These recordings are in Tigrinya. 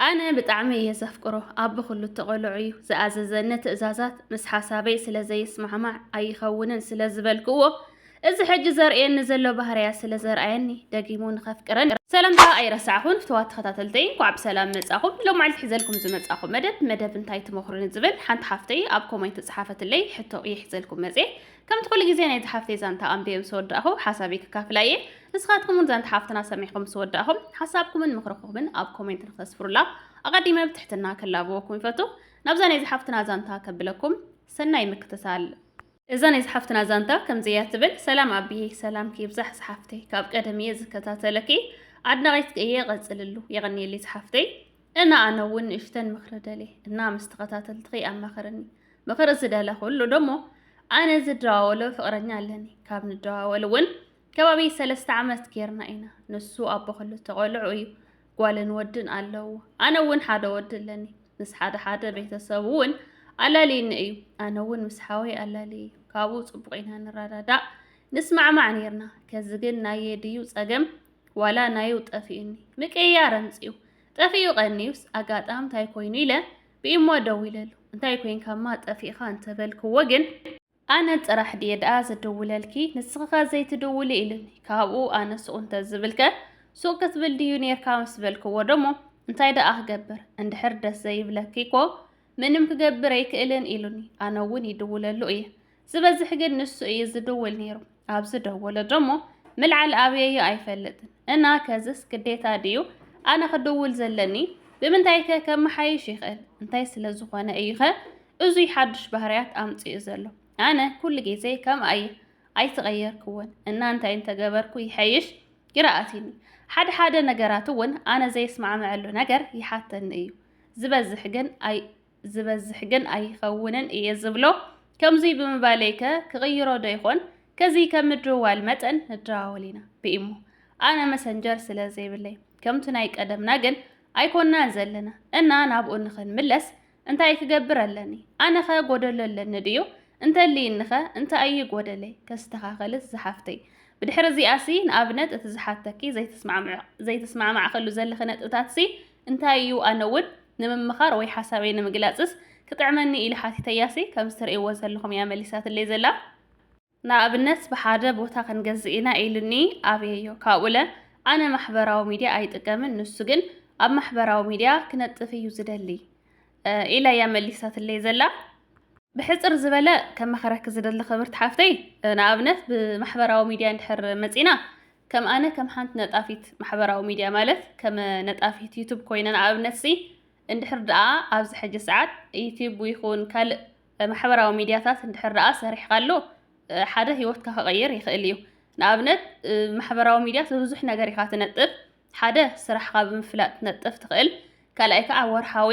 ኣነ ብጣዕሚ እየ ዘፍቅሮ ኣቦ ኩሉ ተቆሎዑ እዩ ዝኣዘዘኒ ትእዛዛት ምስ ሓሳበይ ስለ ዘይስማዕማዕ ኣይኸውንን ስለ ዝበልክዎ እዚ ሕጂ ዘርእየኒ ዘሎ ባህርያ ስለ ዘርኣየኒ ደጊሙ ንኸፍቅረን ሰላምታ ኣይረሳዕኹን ፍትዋት ተኸታተልተይ እንኳዕ ብሰላም መጻኹም ሎም መዓልቲ ሒዘልኩም ዝመጻኹ መደብ መደብ እንታይ ትመኽሩኒ ዝብል ሓንቲ ሓፍተይ ኣብ ኮሜንት ዝጸሓፈትለይ ሕቶ እየ ሒዘልኩም መጽየ ከምቲ ኩሉ ግዜ ናይዛ ሓፍተይ ዛንታ ኣንቢበ ምስ ወዳእኹ ሓሳበይ ከካፍላ እየ። ንስኻትኩም እውን ዛንታ ሓፍትና ሰሚዕኹም ምስ ወዳእኹም ሓሳብኩምን ምኽርኹምን ኣብ ኮሜንት ንክተስፍሩላ ኣቐዲመ ብትሕትና ከላብወኩም ይፈቱ። ናብዛ ናይዛ ሓፍትና ዛንታ ከብለኩም ሰናይ ምክትታል። እዛ ናይ ዝሓፍትና ዛንታ ከምዚ እያ ትብል። ሰላም ኣቢየ ሰላምኪ ይብዛሕ ዝሓፍተይ ካብ ቀደም እየ ዝከታተለኪ ኣድናቂትኪ እየ ቀፅልሉ የቀኒየለይ ዝሓፍተይ እና ኣነ እውን ንእሽተን ምክሪ ደልየ እና ምስ ተኸታተልትኺ ኣማኸርኒ ምኽሪ ዝደለኹሉ ደሞ ኣነ ዝደዋወሎ ፍቕረኛ ኣለኒ ካብ ንደዋወል እውን ከባቢ ሰለስተ ዓመት ጌርና ኢና ንሱ ኣቦ ክልተ ቆልዑ እዩ ጓልን ወድን ኣለዎ ኣነ እውን ሓደ ወዲ ኣለኒ ምስ ሓደ ሓደ ቤተሰቡ እውን ኣላልዩኒ እዩ ኣነ እውን ምስ ሓወይ ኣላልየ እዩ ካብኡ ፅቡቕ ኢና ንረዳዳእ ንስማዕማዕ ነርና ከዚ ግን ናየ ድዩ ፀገም ዋላ ናዩ ጠፊኡኒ ምቅያር ኣምፅኡ ጠፊኡ ቀኒዩስ ኣጋጣምታይ ኮይኑ ኢለ ብኢሞ ደዊለሉ እንታይ ኮይንካማ ጠፊእኻ እንተበልክዎ ግን ኣነ ጥራሕ ድየ ደኣ ዝድውለልኪ ንስኺኸ ዘይትድውሊ ኢሉኒ ካብኡ ኣነ ሱቕ እንተዝብልከ ሱቕ ክትብል ድዩ ኔርካ ምስ በልክዎ ደሞ እንታይ ደኣ ክገብር እንድሕር ደስ ዘይብለኪ እኮ ምንም ክገብር ኣይክእልን ኢሉኒ ኣነ እውን ይድውለሉ እየ ዝበዝሕ ግን ንሱ እዩ ዝድውል ነይሩ። ኣብ ዝደወለ ደሞ ምልዓል ኣብየዮ ኣይፈልጥን እና ከዝስ ግዴታ ድዩ ኣነ ክድውል ዘለኒ ብምንታይ ከ ከመሓይሽ ይኽእል እንታይ ስለ ዝኾነ እዩ ኸ እዙይ ሓዱሽ ባህርያት ኣምፅኡ ዘሎ ኣነ ኩሉ ግዜ ከም ኣየ ኣይተቐየርክዎን እና እንታይ እንተገበርኩ ይሐይሽ ይረኣሲኒ ሓደ ሓደ ነገራት እውን ኣነ ዘይስማዕመዐሉ ነገር ይሓተኒ እዩ ዝበዝሕ ግን ኣይ ዝበዝሕ ግን ኣይኸውንን እየ ዝብሎ። ከምዙይ ብምባለይ ከ ክቕይሮ ዶ ይኾን? ከዚ ከም ምድውዋል መጠን ንደዋወል ኢና ብኢሞ። ኣነ መሰንጀር ስለ ዘይብለይ። ከምቲ ናይ ቀደምና ግን ኣይኮንናን ዘለና እና ናብኡ ንኽንምለስ እንታይ ክገብር ኣለኒ? ኣነኸ ጎደሎ ኣለኒ ድዩ? እንተልይኒኸ እንታይ እዩ ጎደለይ? ከስተኻኸልስ ዝሓፍተይ። ብድሕሪ እዚኣሲ ንኣብነት እቲ ዝሓተኪ ዘይተስማዕማዕኸሉ ዘለኺ ነጥብታትሲ እንታይ እዩ ኣነ እውን ንምምኻር ወይ ሓሳበይ ንምግላጽስ ክጥዕመኒ ኢለ ሓቲተያሲ ከምዚ ትርእይዎ ዘለኹም እያ መሊሳትለይ ዘላ። ንኣብነት ብሓደ ቦታ ክንገዝእ ኢና ኢሉኒ ኣብየዮ ካብኡለ ኣነ ማሕበራዊ ሚድያ ኣይጥቀምን ንሱ ግን ኣብ ማሕበራዊ ሚድያ ክነጥፍ እዩ ዝደሊ ኢላ እያ መሊሳትለይ ዘላ። ብሕጽር ዝበለ ከማኽረኪ ዝደሊ ክብርቲ ሓፍተይ ንኣብነት ብማሕበራዊ ሚድያ እንድሕር መጺእና ከም ኣነ ከም ሓንቲ ነጣፊት ማሕበራዊ ሚድያ ማለት ከመ ነጣፊት ዩቱብ ኮይነ ንኣብነትሲ እንድሕር ድኣ ኣብዚ ሕጂ ሰዓት ዩቱብ ይኹን ካልእ ማሕበራዊ ሚድያታት እንድሕር ድኣ ሰሪሕካሉ ሓደ ሂወትካ ክቕይር ይኽእል እዩ ንኣብነት ማሕበራዊ ሚድያ ብብዙሕ ነገር ኢኻ ትነጥፍ ሓደ ስራሕካ ብምፍላጥ ክትነጥፍ ትኽእል ካልኣይ ከዓ ወርሓዊ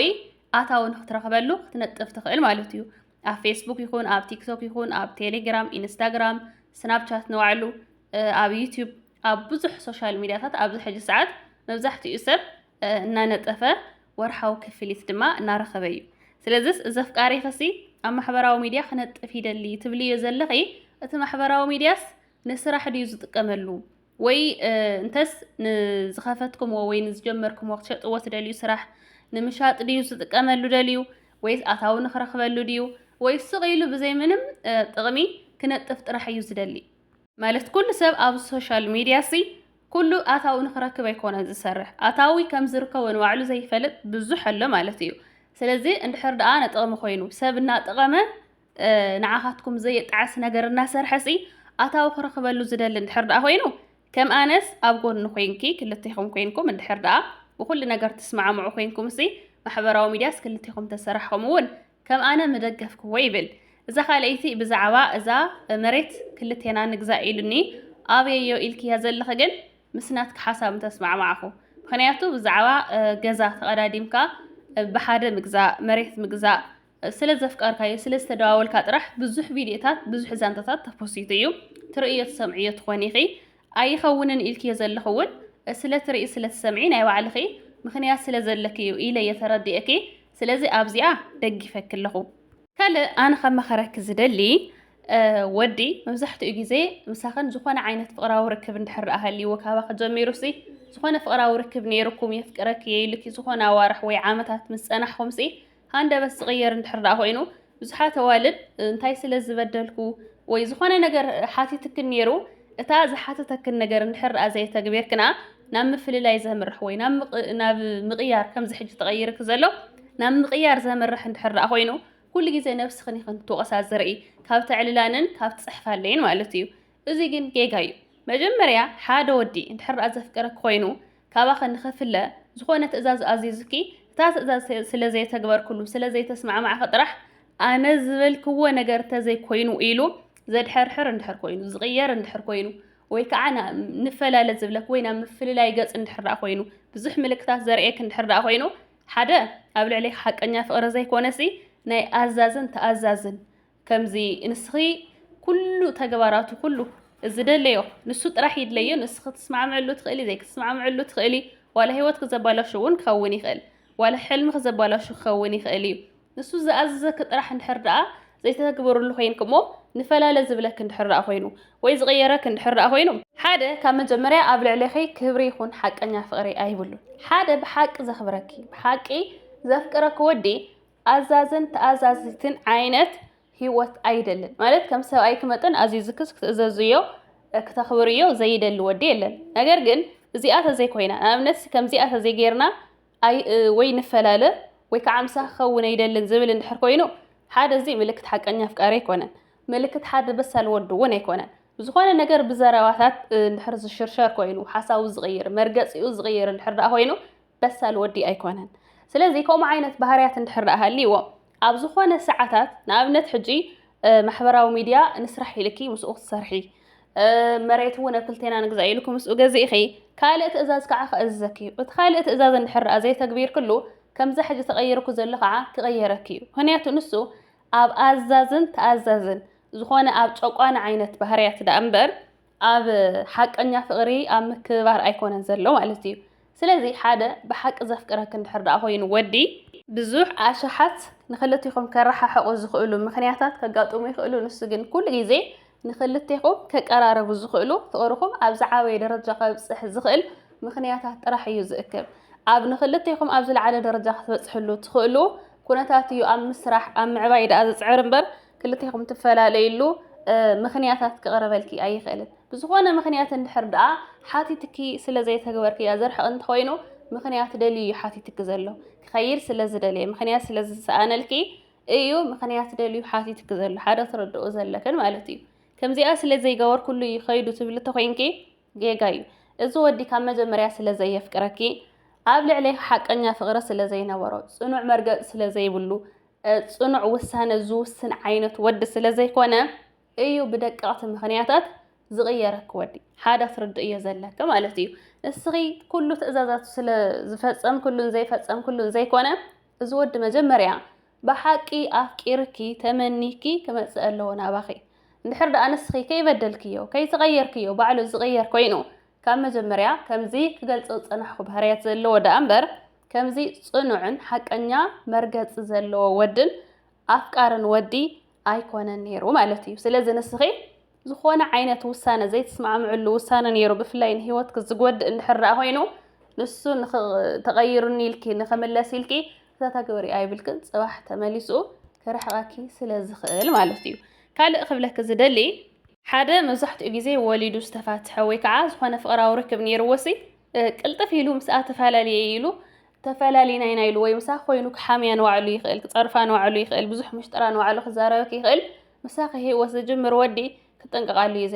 ኣታዊ ንክትረኽበሉ ክትነጥፍ ትኽእል ማለት እዩ ኣብ ፌስቡክ ይኹን ኣብ ቲክቶክ ይኹን ኣብ ቴሌግራም ኢንስታግራም ስናፕቻት ንባዕሉ ኣብ ዩቲዩብ ኣብ ብዙሕ ሶሻል ሚዲያታት ኣብዚ ሕጂ ሰዓት መብዛሕትኡ ሰብ እናነጠፈ ወርሓዊ ክፍሊት ድማ እናረኸበ እዩ ስለዚ እዚ ኣፍቃሪ ክሲ ኣብ ማሕበራዊ ሚዲያ ክነጥፍ ይደሊ ትብልዮ ዘለኺ እቲ ማሕበራዊ ሚዲያስ ንስራሕ ድዩ ዝጥቀመሉ ወይ እንተስ ንዝኸፈትኩምዎ ወይ ንዝጀመርኩምዎ ክትሸጥዎ ትደልዩ ስራሕ ንምሻጥ ድዩ ዝጥቀመሉ ደልዩ ወይስ ኣታዊ ንክረኽበሉ ድዩ ወይስ ስቕ ኢሉ ብዘይ ምንም ጥቕሚ ክነጥፍ ጥራሕ እዩ ዝደሊ? ማለት ኩሉ ሰብ ኣብ ሶሻል ሚድያሲ ኩሉ ኣታዊ ንክረክብ ኣይኮነን ዝሰርሕ። ኣታዊ ከም ዝርከቦ ንባዕሉ ዘይፈልጥ ብዙሕ ኣሎ ማለት እዩ። ስለዚ እንድሕር ደኣ ንጥቕሚ ኮይኑ ሰብ እናጠቐመ ንዓኻትኩም ዘየጣዕስ ነገር እናሰርሐሲ ኣታዊ ክረኽበሉ ዝደሊ እንድሕር ደኣ ኮይኑ ከም ኣነስ ኣብ ጎኒ ኮንኪ ክልቴኹም ኮንኩም እንድሕር ደኣ ብኩሉ ነገር ትስማዕምዑ ኮንኩምሲ ማሕበራዊ ሚድያስ ክልቴኹም ተሰራሕኹም እውን ከም ኣነ ምደገፍክዎ ይብል። እዛ ካልኣይቲ ብዛዕባ እዛ መሬት ክልቴና ንግዛእ ኢሉኒ ኣብየዮ ኢልክያ ዘለኺ ግን ምስ ናትኪ ሓሳብ እንተስማዕማዕኹ ምክንያቱ ብዛዕባ ገዛ ተቐዳዲምካ ብሓደ ምግዛእ መሬት ምግዛእ ስለ ዘፍቀርካዮ ስለ ዝተደዋወልካ ጥራሕ ብዙሕ ቪድዮታት ብዙሕ ዛንታታት ተፖሲቱ እዩ ትርእዮ ትሰምዕዮ ትኾኒ ኢኺ ኣይኸውንን ኢልክዮ ዘለኹ እውን ስለ ትርኢ ስለ ትሰምዒ ናይ ባዕልኺ ምኽንያት ስለ ዘለኪ እዩ ኢለ እየ ተረዲኤኪ ስለዚ ኣብዚኣ ደጊፈኪ ኣለኹ ካልእ ኣነ ከመኸረኪ ዝደሊ ወዲ መብዛሕትኡ ግዜ ምሳኽን ዝኾነ ዓይነት ፍቕራዊ ርክብ እንድሕር ደኣ ሃልይዎ ካባኺ ጀሚሩሲ ዝኾነ ፍቕራዊ ርክብ ነይሩኩም የፍቅረኪ የይልኪ ዝኾነ ኣዋርሕ ወይ ዓመታት ምስ ጸናሕኹምሲ ሃንደበት ዝቕየር እንድሕር ደኣ ኮይኑ ብዙሓት ኣዋልድ እንታይ ስለ ዝበደልኩ ወይ ዝኾነ ነገር ሓቲትክን ነይሩ እታ ዝሓተተክን ነገር እንድሕር ደኣ ዘየተግቤርክና ናብ ምፍልላይ ዘምርሕ ወይ ናብ ምቕያር ከምዚ ሕጂ ተቐይርክ ዘሎ ናብ ምቕያር ዘምርሕ እንድሕር ደኣ ኮይኑ ኩሉ ግዜ ነብስኽን ኢኽን ክትወቕሳ ዝርኢ ካብ ተዕልላንን ካብ ትጽሕፋለይን ማለት እዩ እዚ ግን ጌጋ እዩ መጀመርያ ሓደ ወዲ እንድሕር ደኣ ዘፍቅረኪ ኮይኑ ካባኺ ንኽፍለ ዝኾነ ትእዛዝ ኣዚዙኪ እታ ትእዛዝ ስለ ዘየተግበርክሉ ስለ ዘይተስማዕማዕኺ ጥራሕ ኣነ ዝበልክዎ ነገር ተዘይ ኮይኑ ኢሉ ዘድሐርሕር እንድሕር ኮይኑ ዝቕየር እንድሕር ኮይኑ ወይ ከዓ ና- ንፈላለ ዝብለክ ወይ ናብ ምፍልላይ ገጽ እንድሕር ደኣ ኮይኑ ብዙሕ ምልክታት ዘርእየክ እንድሕር ደኣ ኮይኑ ሓደ ኣብ ልዕሌኺ ሓቀኛ ፍቕሪ ዘይኮነሲ ናይ ኣዛዝን ተኣዛዝን ከምዚ ንስኺ ኩሉ ተግባራቱ ኩሉ ዝደለዮ ንሱ ጥራሕ ይድለዮ ንስ ክትስማዕምዕሉ ትኽእሊ ዘይክትስማዕምዕሉ ትኽእሊ ዋላ ህይወት ክዘባላሹ እውን ክኸውን ይኽእል ዋላ ሕልሚ ክዘባላሹ ክኸውን ይኽእል እዩ ንሱ ዝኣዘዘኪ ጥራሕ እንድሕር ደኣ ዘይተተግበርሉ ኮይንክ እሞ ንፈላለ ዝብለክ እንድሕር ደኣ ኮይኑ ወይ ዝቕየረክ እንድሕር ደኣ ኮይኑ ሓደ ካብ መጀመርያ ኣብ ልዕሌኺ ክብሪ ይኹን ሓቀኛ ፍቕሪ ኣይብሉን ሓደ ብሓቂ ዘኽብረኪ ብሓቂ ዘፍቅረኪ ወዲ ኣዛዝን ተኣዛዚትን ዓይነት ህይወት ኣይደልን ማለት ከም ሰብኣይኪ መጠን ኣዚዝክስ ክትእዘዝዮ ክተኽብርዮ ዘይደሊ ወዲ የለን ነገር ግን እዚኣ ተዘይኮይና ንኣብነት ከምዚኣ ተዘይጌርና ወይ ንፈላለ ወይ ከዓ ምሳኺ ክኸውን ኣይደልን ዝብል እንድሕር ኮይኑ ሓደ እዚ ምልክት ሓቀኛ ኣፍቃሪ ኣይኮነን ምልክት ሓደ በሳል ወዲ እውን ኣይኮነን ዝኾነ ነገር ብዘረባታት እንድሕር ዝሽርሸር ኮይኑ ሓሳቡ ዝቕይር መርገፂኡ ዝቕይር እንድሕር ደኣ ኮይኑ በሳል ወዲ ኣይኮነን። ስለዚ ከምኡ ዓይነት ባህርያት እንድሕር ደኣ ሃልይዎ ኣብ ዝኾነ ሰዓታት ንኣብነት ሕጂ ማሕበራዊ ሚድያ ንስራሕ ኢልኪ ምስኡ ክትሰርሒ መሬት እውን ኣብ ክልቴና ንግዛእ ኢልኩ ምስኡ ገዚእኺ ካልእ ትእዛዝ ከዓ ክእዝዘኪ እዩ። እቲ ካልእ ትእዛዝ እንድሕር ደኣ ዘይተግቢርክሉ ከምዛ ሕጂ ተቐይርኩ ዘሎ ከዓ ክቐየረኪ እዩ። ምክንያቱ ንሱ ኣብ ኣዛዝን ተኣዛዝን ዝኾነ ኣብ ጨቋኒ ዓይነት ባህርያት ደኣ እምበር ኣብ ሓቀኛ ፍቅሪ ኣብ ምክብባር ኣይኮነን ዘሎ ማለት እዩ ስለዚ ሓደ ብሓቂ ዘፍቅረክ እንድሕር ደኣ ኮይኑ ወዲ ብዙሕ ኣሽሓት ንክልቴኹም ከረሓሕቑ ዝኽእሉ ምኽንያታት ከጋጥሙ ይኽእሉ ንሱ ግን ኩሉ ግዜ ንክልቴኹም ከቀራረቡ ዝኽእሉ ፍቅርኹም ኣብ ዝዓበየ ደረጃ ከብጽሕ ዝኽእል ምኽንያታት ጥራሕ እዩ ዝእክብ ኣብ ንክልቴኹም ኣብ ዝለዓለ ደረጃ ክትበጽሕሉ ትኽእሉ ኩነታት እዩ ኣብ ምስራሕ ኣብ ምዕባይ ደኣ ዝጽዕር እምበር ክልቴኹም ትፈላለዩሉ ምኽንያታት ክቕረበልኪ ኣይኽእልን። ብዝኾነ ምኽንያት እንድሕር ደኣ ሓቲትኪ ስለ ዘይተግበርክያ ዘርሕቕ እንተኾይኑ ምኽንያት ደልዩ እዩ ሓቲትኪ ዘሎ። ክኸይድ ስለ ዝደለየ ምኽንያት ስለ ዝሰኣነልኪ እዩ ምኽንያት ደልዩ ሓቲትኪ ዘሎ ሓደ ትርድኡ ዘለክን ማለት እዩ። ከምዚኣ ስለ ዘይገበርኩሉ እዩ ከይዱ ትብሊ ተኾይንኪ ጌጋ እዩ እዚ ወዲ ካብ መጀመርያ ስለ ዘየፍቅረኪ ኣብ ልዕሌኪ ሓቀኛ ፍቅሪ ስለ ዘይነበሮ ጽኑዕ መርገጺ ስለ ዘይብሉ ጽኑዕ ውሳነ ዝውስን ዓይነት ወዲ ስለ ዘይኮነ እዩ ብደቀቅቲ ምክንያታት ዝቕየረኪ ወዲ ሓደ ክትርድእዮ ዘለኪ ማለት እዩ ንስኺ ኩሉ ትእዛዛቱ ስለ ዝፈጸምክሉን ዘይፈጸምክሉን ዘይኮነ እዚ ወዲ መጀመርያ ብሓቂ ኣፍቂርኪ ተመኒኪ ክመጽእ ኣለዎ ናባኺ እንድሕር ደኣ ንስኺ ከይበደልክዮ ከይተቐየርክዮ ባዕሉ ዝቕየር ኮይኑ ካብ መጀመርያ ከምዚ ክገልጾ ዝጸናሕኩ ባህርያት ዘለዎ ደኣ እምበር ከምዚ ጽኑዕን ሓቀኛ መርገጺ ዘለዎ ወድን ኣፍቃርን ወዲ ኣይኮነን ነይሩ ማለት እዩ። ስለዚ ንስኺ ዝኾነ ዓይነት ውሳነ ዘይትስማዕምዕሉ ውሳነ ነይሩ ብፍላይ ንሂወትኪ ዝጎድእ እንድሕር ደኣ ኮይኑ ንሱ ተቐይሩኒ ኢልኪ ንኽምለስ ኢልኪ ተተግብሪ ኣይብልክን ጽባሕ ተመሊሱ ክርሕቐኪ ስለ ዝኽእል ማለት እዩ። ካልእ ክብለኪ ዝደሊ ሓደ መብዛሕትኡ ግዜ ወሊዱ ዝተፋትሐ ወይ ከዓ ዝኾነ ፍቕራዊ ርክብ ነይርዎሲ ቅልጥፍ ኢሉ ምስኣ ተፈላለየ ኢሉ ተፈላሊና ኢና ኢሉ ወይ ምሳኺ ኮይኑ ክሓምያ ንባዕሉ ይኽእል፣ ክጸርፋ ንባዕሉ ይኽእል፣ ብዙሕ ምሽጥራ ንባዕሉ ክዛረበኪ ይኽእል፣ ምሳኺ ህይወት ዝጅምር ወዲ ክጥንቀቓሉ እዩ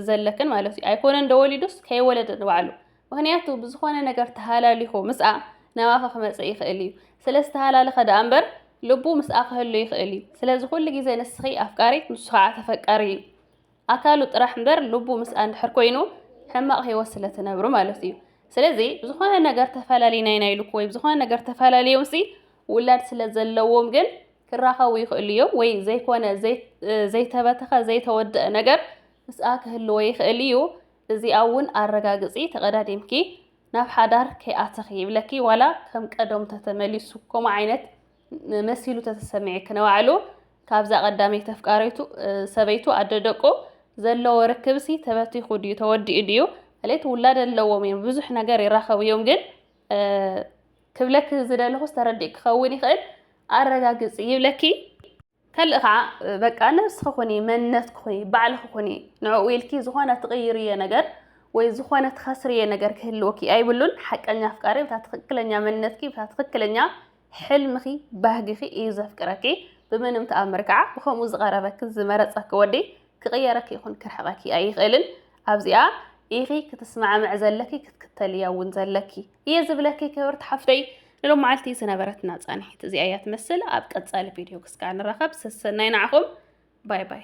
ዘለክን ማለት እዩ። ኣይኮነን ዶ ወሊዱስ ከይወለደ ንባዕሉ ምክንያቱ ብዝኾነ ነገር ተሃላሊኹ ምስኣ ናባኺ ክመጽእ ይኽእል እዩ። ስለ ዝተሃላለኸ ደኣ እምበር ልቡ ምስኣ ክህሉ ይኽእል እዩ። ስለዚ ኩሉ ግዜ ንስኺ ኣፍቃሪት ንሱ ከዓ ተፈቃሪ እዩ። ኣካሉ ጥራሕ እምበር ልቡ ምስኣ እንድሕር ኮይኑ ሕማቕ ህይወት ስለ ትነብሩ ማለት እዩ። ስለዚ ብዝኾነ ነገር ተፈላለዩና ኢና ኢሉኩ ወይ ብዝኾነ ነገር ተፈላለዮምሲ ውላድ ስለ ዘለዎም ግን ክራኸቡ ይኽእሉ እዮም ወይ ዘይኮነ ዘይተበተኸ ዘይተወደአ ነገር ምስኣ ክህልዎ ይኽእል እዩ። እዚኣ እውን ኣረጋግፂ ተቐዳዲምኪ ናብ ሓዳር ከይኣተኺ ይብለኪ ዋላ ከም ቀደሙ ተተመሊሱ ከምኡ ዓይነት መሲሉ ተተሰምዔ ክነባዕሉ ካብዛ ቀዳመይቲ ተፍቃሪቱ ሰበይቱ ኣደ ደቁ ዘለዎ ርክብሲ ተበቲኹ ድዩ ተወዲኡ ድዩ ማለት ውላድ ኣለዎም እዮም ብዙሕ ነገር ይራኸቡ እዮም ግን ክብለኪ ዝደለኹ ዝተረዲእ ክኸውን ይኽእል ኣረጋግፂ ይብለኪ ከልእ ከዓ በቃ ነብስኺ ኩኒ፣ መንነትኪ ኩኒ፣ ባዕልኺ ኩኒ። ንዕኡ ኢልኪ ዝኾነ ትቕይርዮ ነገር ወይ ዝኾነ ትኸስርዮ ነገር ክህልወኪ ኣይብሉን። ሓቀኛ ኣፍቃሪ ብታ ትኽክለኛ መንነትኪ፣ ብታ ትኽክለኛ ሕልምኺ፣ ባህግኺ እዩ ዘፍቅረኪ። ብምንም ተኣምር ከዓ ብከምኡ ዝቐረበኪ ዝመረፀኪ ወዲ ክቅየረኪ ይኹን ክርሕቀኪ ኣይኽእልን ኣብዚኣ ኢኺ ክትስማዕምዕ ዘለኪ ክትክተልያ እውን ዘለኪ እየ ዝብለኪ ክብርቲ ሓፍተይ ንሎም መዓልቲ ዝነበረትና ፃንሒት እዚኣ እያ ትመስል ኣብ ቀፃሊ ቪድዮ ክስካዕ ንራኸብ ሰሰናይ ንዓኹም ባይ ባይ